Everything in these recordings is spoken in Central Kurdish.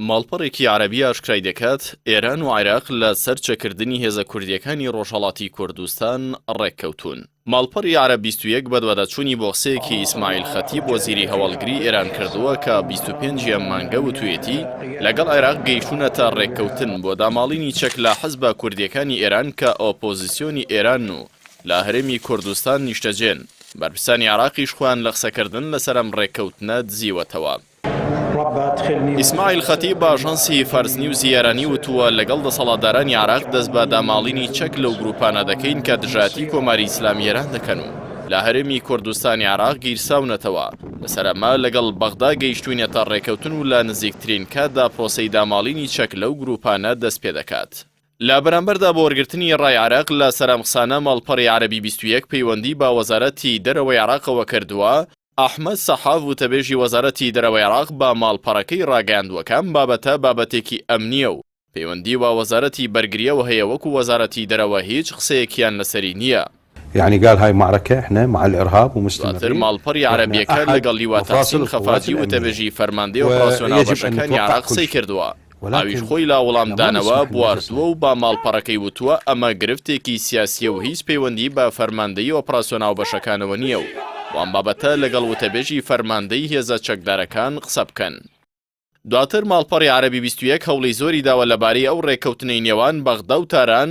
ماڵپەڕێکی عەرەبی ئاشکرای دەکات، ئێران و عێراق لە سەر چەکردنی هێزە کوردییەکانی ڕۆژهەڵاتی کوردستان ڕێککەوتوون. ماڵپەڕی عەرەب بیست و یەک بەدواداچوونی بۆ قسەیەکی ئیسماعیل خەتیب وەزیری هەواڵگری ئێران کردووە کە بیست و پێنج ی ئەم مانگە وتوویەتی، لەگەڵ عێراق گەیشتوونەتە ڕێککەوتن بۆ داماڵینی چەک لە حزبە کوردییەکانی ئێران کە ئۆپۆزیسیۆنی ئێرانن و لە هەرێمی کوردستان نیشتەجێن. بەرپرسانی عێراقیش خۆیان لە قسەکردن لەسەر ئەم ڕێککەوتنە دزیوەتەوە. ئیسماعیل خەتیب بە ئاژانسی فارس نیوزی ئێرانی وتووە لەگەڵ دەسەڵاتدارانی عێراق دەست بە داماڵینی چەک لەو گرووپانە دەکەین کە دژایەتی کۆماری ئیسلامی ئێران دەکەن و لە هەرێمی کوردستانی عێراق گیرساونەتەوە لەسەر ئەمە لەگەڵ بەغدا گەیشتوینەتە ڕێکەوتن و لە نزیکترین کاتدا پرۆسەی داماڵینی چەک لەو گروپانە دەست پێ دەکات. لە بەرامبەردا بۆ وەرگرتنی ڕای عێراق لە سەرام قسانە ماڵپەڕی عەرەبی بیست و یەک پەیوەندی بە وەزارەتی دەرەوەی عێراقەوە کردووە، ئەحمەد سەحاف وتەبێژی وەزارەتی دەرەوەی عێراق بە ماڵپەڕەکەی راگەیاندووەکەم بابەتە بابەتێکی ئەمنییە و پەیوەندی بە وەزارەتی بەرگرییەوە هەیە وەکو وەزارەتی دەرەوە هیچ قسەیەکیان لەسەری نییە. دواتر ماڵپەڕی عەرەبیەکە لەگەڵ لیوا تەحسین خەفاجی وتەبێژی فەرماندەی ئۆپڕاسیۆنە بەشەکانی عێراق قسەی کردووە. ئەویش خۆی لا وڵام دانەوە بواردووە و بە ماڵپەڕەکەی وتووە ئەمە گرفتێکی سیاسییە و هیچ پەیوەندی بە فەرماندەیی ئۆپڕاسیۆن هاوبەشەکانەوە نییە و وام بابەتە لەگەڵ وتەبێژی فەرماندەی هێزە چەکدارەکان قسە بکەن. دواتر ماڵپەڕی عەرەبی بیست و یەک هەوڵی زۆری داوە لەبارەی ئەو ڕێککەوتنەی نێوان بەغدا و تاران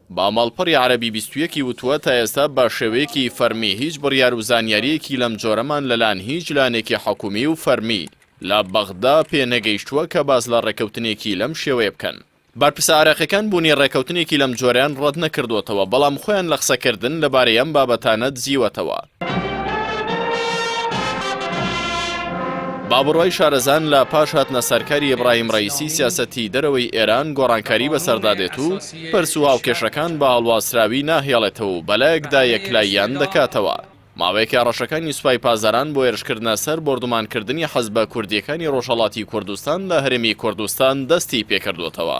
با ماڵپەڕی عەرەبی بیست و یەک ی وتووە تا ئێستا بە شێوەیەکی فەرمی هیچ بڕیار و زانیارییەکی لەم جۆرەمان لەلایەن هیچ لایەنێکی حکوومی و فەرمی لە بەغدا پێ نەگەیشتووە کە باس لە ڕێککەوتنێکی لەم شێوەیە بکەن. بەرپرسە عێراقییەکان بوونی ڕێککەوتنێکی لەم جۆرەیان ڕەت نەکردووەتەوە، بەڵام خۆیان لە قسەکردن لەبارەی ئەم بابەتانە دزیوەتەوە. با بڕوای شارەزان لە پاش هاتنە سەرکاری ئیبراهیم ڕەیسی سیاسەتی دەرەوەی ئێران گۆڕانکاری بەسەردا دێت و پرس و هاوکێشەکان بە هەڵواسراوی ناهێڵێتەوە و بەلایەکدا یەکلاییان دەکاتەوە. ماوەیەکە هەڕەشەکانی سوپای پاسداران بۆ هێرشکردنە سەر بۆردومانکردنی حزبە کوردییەکانی ڕۆژهەڵاتی کوردستان لە هەرێمی کوردستان دەستی پێکردووەتەوە،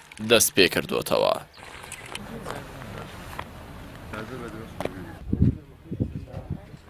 دەست پێکردۆتەوە.